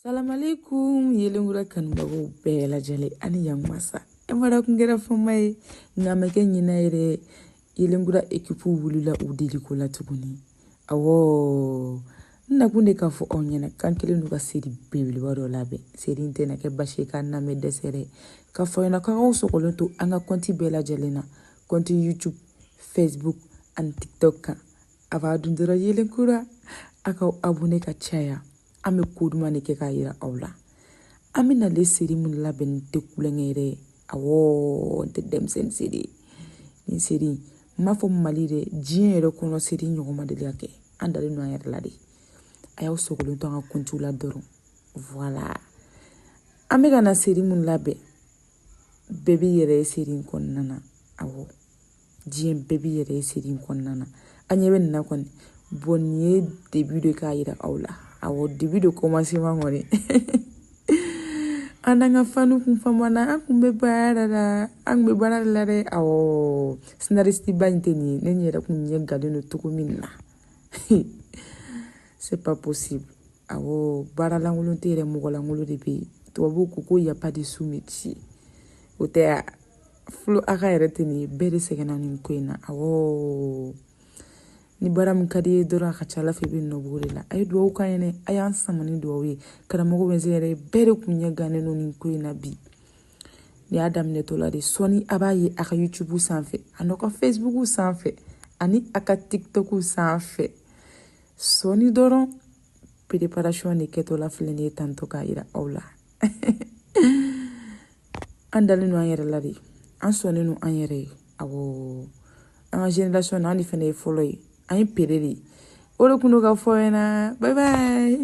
salamaleykum yelenkura kanubagaw bɛɛ lajɛlen ani yanmasa e mara kun kɛra fɔma ye nka ma kɛ ɲina ye dɛ yelenkura ekipu wulila u deliko la tuguni awɔ n nakun de k'a fɔ aw ɲɛna k'an kɛlen don ka seri belebeleba dɔ labɛn seri in tɛna kɛ basi ye k'a namɛ dɛsɛ dɛ k'a fɔ ɲɛna k'a k'aw sɔgɔlen to an ka kɔnti bɛɛ lajɛlen na kɔnti youtube facebook ani tiktok kan a b'a don dɔrɔn yelenkura a k'aw abone ka caya an bɛ ko duman de kɛ k'a yira aw la an bɛ nale seri min labɛn nin tɛ tulonkɛ ye dɛ awɔ nin tɛ denmisɛnnin seri ye nin seri n m'a fɔ mali dɛ diɲɛ yɛrɛ kɔnɔ seri ɲɔgɔn ma deli ka kɛ an dalen don an yɛrɛ la de a y'aw sɔgɔlen to an ka kɔntiw la dɔrɔn voilà an bɛ ka na seri min labɛn bɛɛ b'i yɛrɛ ye seri in kɔnɔna na awɔ diɲɛ bɛɛ b'i yɛrɛ ye seri in kɔnɔna na an ɲɛ bɛ nin na kɔni bɔn nin ye début de k'a yira aw la awɔ début de commencement kɔni an n'an ka fanw kun famana an kun bɛ baara la an kun bɛ baara la dɛ awɔ scénariste ba in tɛ nin ye ne nin yɛrɛ kun ɲɛ gannen don cogo min na c'est pas possible awɔ baara lankolon tɛ yen dɛ mɔgɔ lankolon de bɛ yen tubabuw ko ko y a pas de sous métier o tɛ a fulu a ka yɛrɛ tɛ nin ye bɛɛ de sɛgɛnna nin ko in na awɔ ni baara min ka d'i ye dɔrɔn a ka ca a la fɛ i bɛ nɔ b'o de la a ye dugawu k'an ye dɛ a y'an sama ni dugawu ye karamɔgɔ bɛ se yɛrɛ bɛɛ de kun ɲɛ gannen don nin ko in na bi nin y'a daminɛtɔla de sɔni a b'a ye a ka youtube sanfɛ a n'aw ka facebook sanfɛ ani a ka tiktok sanfɛ sɔni dɔrɔn préparation de kɛtɔla filɛ nin ye tantɔ k'a yira aw la an dalen don an yɛrɛ la de an sɔnnen don an yɛrɛ ye awɔ an ka génération na an de fana ye fɔlɔ ye an ye pere de ye o de kun don k'a f'aw ɲɛna bye bye